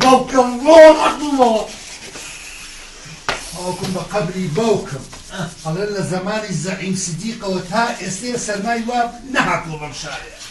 باوکم باوکم بە قەبری باوکم ئەڵێ لە زەمانی زەعیم سدیقەوە تا ئێستێ سەرمای واب نەهاتووە بەم شارێ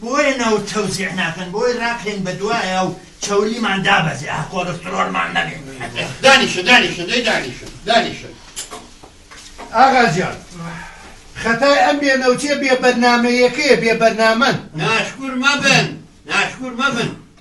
بۆیە نەوت تەوزیع ناکەن بۆی ڕاکەین بە دوایا و چەوریمان دابەزێ ئاه کۆلسترۆلمان نەبێ. دانیشە دانیشە دەی دانیشە دانیشە. ئاغا جان خەتای ئەم بێ نەوتیە بێ بەرنامەیەکەیە بێ بەرنامەن. ناشکور مەبن ناشکور مەبن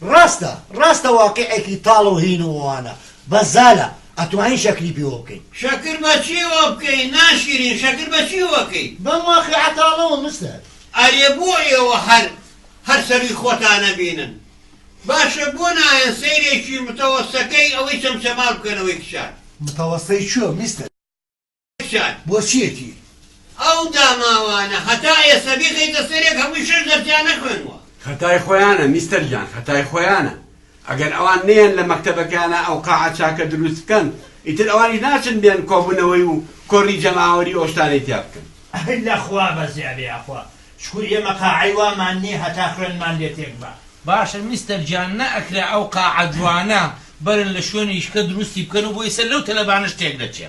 ڕاستە ڕاستە واقیعێکی تاڵ و هین و وانە بەس زالە ئەتوانین شەکری پیوە بکەین. شەکر بە چیوە بکەین ناشیرین شەکر بە چیوە کەی. بەم واقیعە تاڵەوە مستەر. ئەرێ بۆ ئێوە هەر هەر سەروی خۆتان ئەبینن باشە بۆ نایەن سەیرێکی متەوەستەکەی ئەوەی چەمچەماڵ بکەن ئەوەی کچان. متەوەستەی چۆ میستەر. کچان بۆچیەتی ئەو داماوانە هەتا ئێستا بیخەیتە سەرێک هەمووی شەش دەرسیان نەخوێنوە. خەتای خۆیانە میستەر گیان خەتای خۆیانە ئەگەر ئەوان نەیەن لە مەکتەبەکەیانا ئەو قاعە چاکە دروست بکەن ئیتر ئەوانیش ناچن بێن کۆبونەوەی و کۆڕی جەماوەری و ئەو شتانەی تیا بکەن. ئەی لە خوا بەزیا بێ یاخوا شکور ئێمە قاعەی وامان نیە هەتا خوێنمان لێ تێک با. باشە میستەر گیان نەئەکرا ئەو قاعە جوانە بەرن لە شوێنیشکە دروستی بکەن و بۆی سەر لەو تەلەبانەش تێک دەچێ.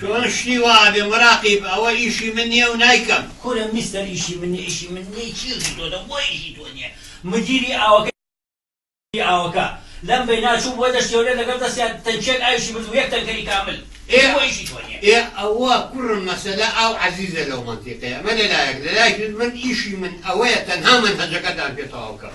چۆن شتی وا ئەبێ مراقیب ئەوە ئیشی من نیە و نایکەم. کورە میستەر ئیشی من نیە ئیشی من نیە چی ئیشی تۆتە بۆ ئیشی تۆ نیە مدیری ئاوەکەی ئاوەکە لەم بەینا چوو بۆ دەشتی هەولێر لەگەڵ دەستیا تەنکیەک ئاویشی برد و یەک تەنکەری کامل ئێ بۆ ئیشی تۆ نیە. ئێ ئەوە کوڕم مەسەلە ئاو عەزیزە لەو مەنتیقەیە ئەمە لەلایەک لەلایەکی تر من ئیشی من ئەوەیە تەنها مەنهەجەکەتان پێ تەواو کەم.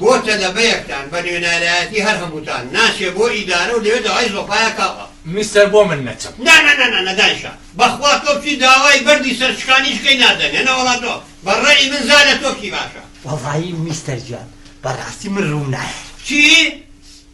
بۆ تەلەبەیەکتان بە نوێنارایەتی هەر هەمووتان ناچێ بۆ ئیدارە و لەوێ داوای زۆپایە کاوە. میستەر بۆ من نەچم. نا نا نا نا دانیشە بەخوا تۆ بچی داوای بەردی سەرچکانیش کەی نادەن هێنە وەڵا تۆ بە ڕەئی من زا لە تۆ کی باشە. وەڵایی میستەر گیان بەڕاستی من ڕووم نایەت. چی؟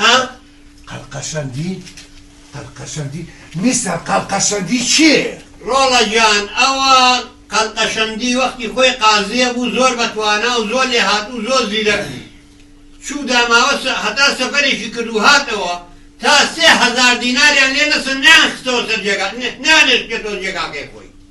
ها قەلقەشەندی قەلقەشەندی میستەر قەلقەشەندی چییە؟ ڕۆڵە گیان ئەوە قەلقەشەندی وەختی خۆی قازییە بوو زۆر بەتوانا و زۆر لێهاتوو و زۆر زیرەک بوو چوو داماوە سە هەتا سەفەرێکی کرد و هاتەوە تا سێ هەزار دیناریان لێ نەسن نەیانخستەوە سەر جێگا نەیانێشتێتەوە جێگاکەی خۆی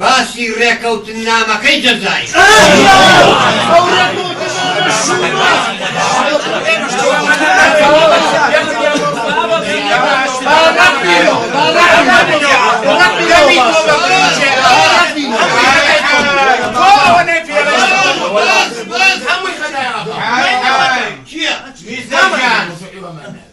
باسی ڕێکەوتننامەکەی جەزائیر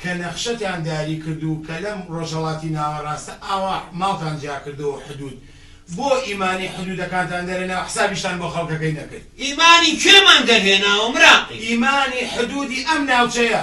کە نەخشەتان داری کردوو کە لەم ڕۆژهەڵاتی ناوەڕاستە ئاوا ماڵتان جیا کردووە و حدوود بۆ ئیمانی حدوودەکانتان دەرهێنا و حسابیشتان بۆ خەڵکەکەی نەکرد. ئیمانی کێمان دەرهێناوە مراقی؟ ئیمانی حدوودی ئەم ناوچەیە.